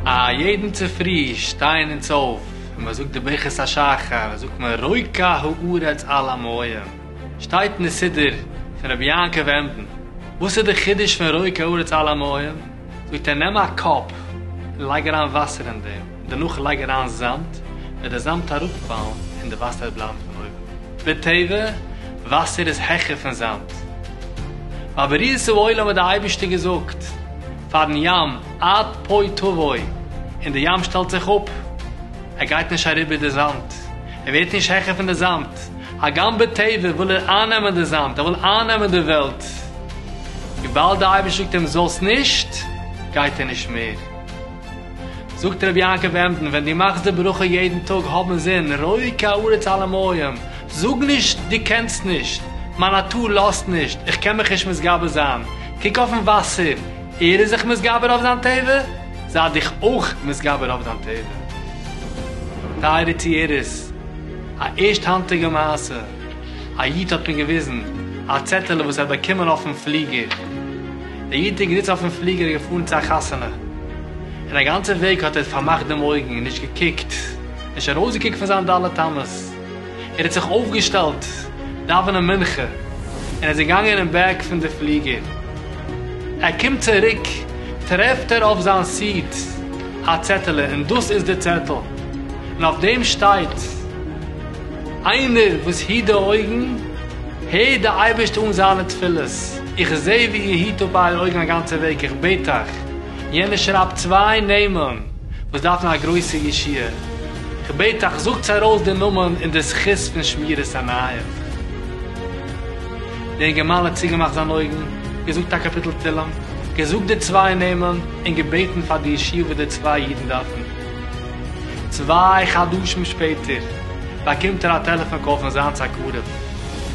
א יעדן צופרי שטייען אונז אויף און מען זאגט די ברכת השחר זאגט מען רוקה הארץ על עמהם שטייט אין די סידור פון רבי יעקב עמדין וואס איז די חידוש פון רוקה הארץ על עמהם זאגט ער נעם א קאפ און לייג אריין וואסער אין דעם דערנאך לייג אריין זאמד, וועט די זאמד אראפפאלן און די וואסער בלייבט פון אויבן. בטבע, וואסער איז העכער פון זאמד. ביי בריאת העולם האט די אייבערשטער געזאגט פארן ים עד פה תבוא, און די ים שטעלט זיך אפ, ער גייט נישט אריבער די זאמד, ער ווערט נישט העכער פון די זאמד, הגם בטבע וויל ער אייננעמען די זאמד, ער וויל אייננעמען די וועלט, וויבאלד די אייבערשטער זאגט אים זאלסט נישט, גייט ער נישט מער. זאגט רבי יעקב עמדן, ווען דו מאכסט די ברכה יעדן טאג האב אינזין, ראה כי הארץ עלה מים, זאג נישט דו קענסט נישט, מיין נאטור לאזט נישט, איך קען מיך נישט מתגבר זיין, קוק אויפן וואסער, ער איז זיך מתגבר אויף זיין טבע, זיי דיך אויך מתגבר אויף דיין טבע. טייערע צוהערערס, א ערשט האנטיגע מעשה, א איד האט מיר געוויזן א צעטעלע וואס ער האט באקומען אויפן פליגער, דער איד איז געזיצן אויפן פליגער און געפארן צו א חתונה, און א גאנצע וועג האט ער פארמאכט דעם אויגן און נישט געקוקט, נישט ארויסגעקוקט פון זיין ד' אמות, ער האט זיך אויפגעשטעלט דאווענען מנחה און ער איז געגאנגען אין בעק פון די פליגער. ער קומט צוריק טרעפט ער אויף זיין סיעט א צעטעלע און דאס איז די צעטל און אויף דעם שטייט, איינער וואס היט די אויגן, הערט דער אייבערשטער אן זיינע תפילות. איך זע ווי איר היט אפ אייערע אויגן א גאנצע וועג, איך בעט אייך. יענער שרייבט צוויי נעמען וואס דארפן א גרויסע ישועה. איך בעט אייך, זאגטס ארויס די נאמען אין די זכות פון שמירת עיניים. דער אינגערמאן האט צוגעמאכט זיינע אויגן, געזאגט א קאפיטל תהלים, געזאגט די צוויי נעמען, און געבעטן פאר די ישועה וואס די צוויי אידן דארפן. צוויי חדשים שפעטער באקומט ער א טעלעפאן קאל פון זיינס א קרוב, און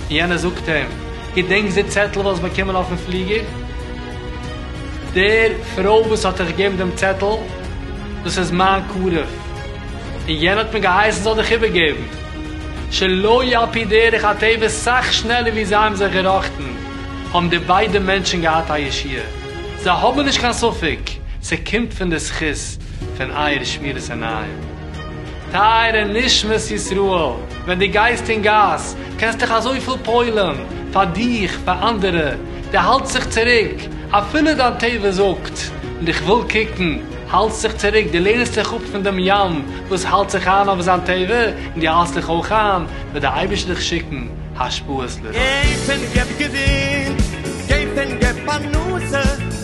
יענער זאגט אים, געדענקסט די צעטל וואס האסט באקומען אויפן פליגער? דער פרוי וואס האט דיך געגעבן דעם צעטל, דאס איז מיין קרוב, און יענער האט מיר געהייסן זאל דיך איבערגעבן. שלא על פי דרך הטבע סאך שנעלער ווי זיי האבן זיך געראכטן, האבן די ביידע מענטשן געהאט א ישועה. זיי האבן נישט קיין ספק, ס'קומט פון די זכות. פון אייער שמירת עיניים. טייערע נשמות ישראל, ווען דו גייסט אין גאס, קענסט דיך אזויפיל פוילען, פאר דיך, פאר אנדערע, דו האלטסט זיך צוריק, אפילו דיין טבע זאגט, איך וויל קוקן, האלטסט זיך צוריק, דו לערנסט דיך אפ פון דעם ים וואס האלט זיך איין אויף זיין טבע, און דו האלטסט דיך אויך איין, וועט דער אייבערשטער דיך שיקן השפעות לרעה. געב און געב געזונט, געב און געב פרנסה.